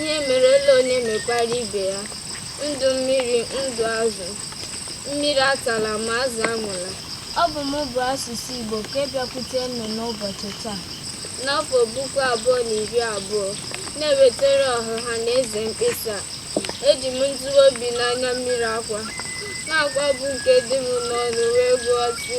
ihe merela onye mekwara ibe ya ndụ mmiri ndụ azụ mmiri atala ma azụ anwụla ọ bụ mụ bụ asụsụ igbo ka ịbịakwute unu n'ụbọchị taa n'afọ puku abụọ na iri abụọ na-ewetara ọha na eze mkpesa eji m ntiwa obi na anya mmiri akwa na akwa bụ nke dị m n'ọnụ wee gụọ sị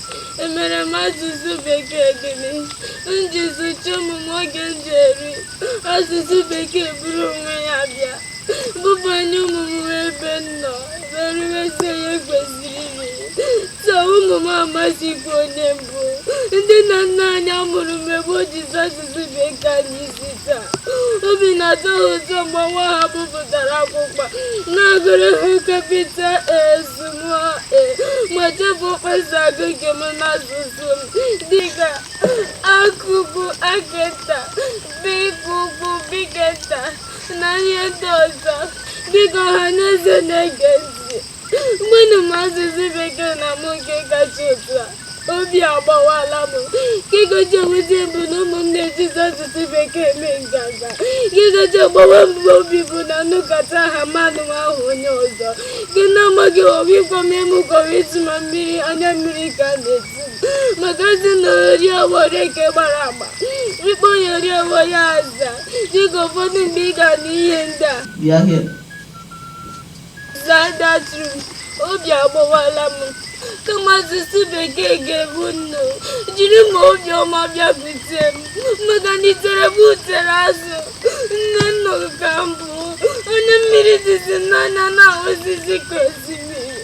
emere m asụsụ bekee gịnị m ji zụcha ụmụ m oge m ji eri asụsụ bekee buru onwe ya bịa bubanye ụmụ m ebe m nọ wee riwezi ihe m kwesịrị iri so ụmụ m amazịkwa onye m bụ ndị nna nna anyị a mụrụ mgbe gboo jizi asụsụ bekee anya isi taa obi na-atọ ha ụtọ mgbe nwa ha bupụtara akwụkwọ na-agụrụ ha capital a s ma chefuo kpa e si agụ nke m n'asụsụ m dịka a nke ukwu a nke nta bị nke ukwu bị nke nta na ihe ndị ọzọ biko ọha na eze na-ege ntị gwanụ m asụsụ bekee na mụ nke kacha otu a obi agbawala m ihe kacha ewuzi m bụ na ụmụ m na-ejizi asụsụ bekee eme nganga ihe kacha agbawa mụ obi bụ na nnukata ha mmadụ ahụ onye ọzọ gị na-amaghị obi ịkwa m emu kọrọ ịtụma mmiri anya mmiri ka a na-eti maka a sị na ori awọ rie nke gbara agba a kpọọ ya ori awọ ya aza dịka ụfọdụ mgbe ị ga-anụ ihe ndị a obi agbawala m kama asụsụ bekee ga-egbu m unu jiri ma obiọma bịakwute m maka na itere bụ utere azụ nne nna ka m bụ onye mmiri dịzi n'anya na-asọsi ka osimiri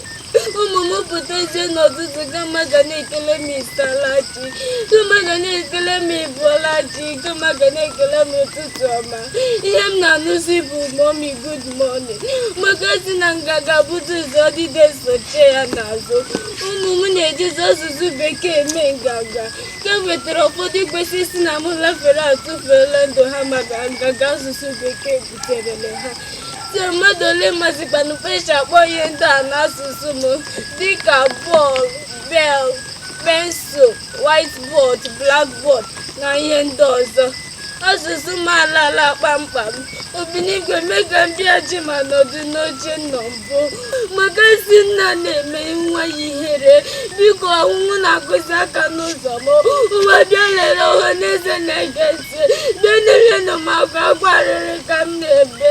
ụmụ m pụtazie n'ụtụtụ kama ha ga na-ekele m ị saala chi kama ha ga na-ekele m ị bọọla chi kama ha ga na-ekele m ụtụtụ ọma ihe m na-anụzi bụ mummy good morning maka a sị na nganga bute ụzọ ọdịda sochie ya n'azụ ụmụ m na-ejizi asụsụ bekee eme nganga ka e wetara ụfọdụ kwesịrị isi na m lafere atụfuela ndụ ha maka nganga asụsụ bekee buterele ha si mmadụ ole mazikwanụ kpa e si akpọ ihe ndị a n'asụsụ m dịka ball bell pencil whiteboard blackboard na ihe ndị ọzọ asụsụ m alala kpamkpam obinigwe mee ka m bịaghachi ma nọdụ n'oche m nọ mbụ maka a sị nna na-eme nwa ya ihere biko ọnwụ na-akụzi aka n'ụzọ m ụwa bịa lere ọha na eze na-ege ntị bịa nyerenụ m aka akwa arịrị ka m na-ebe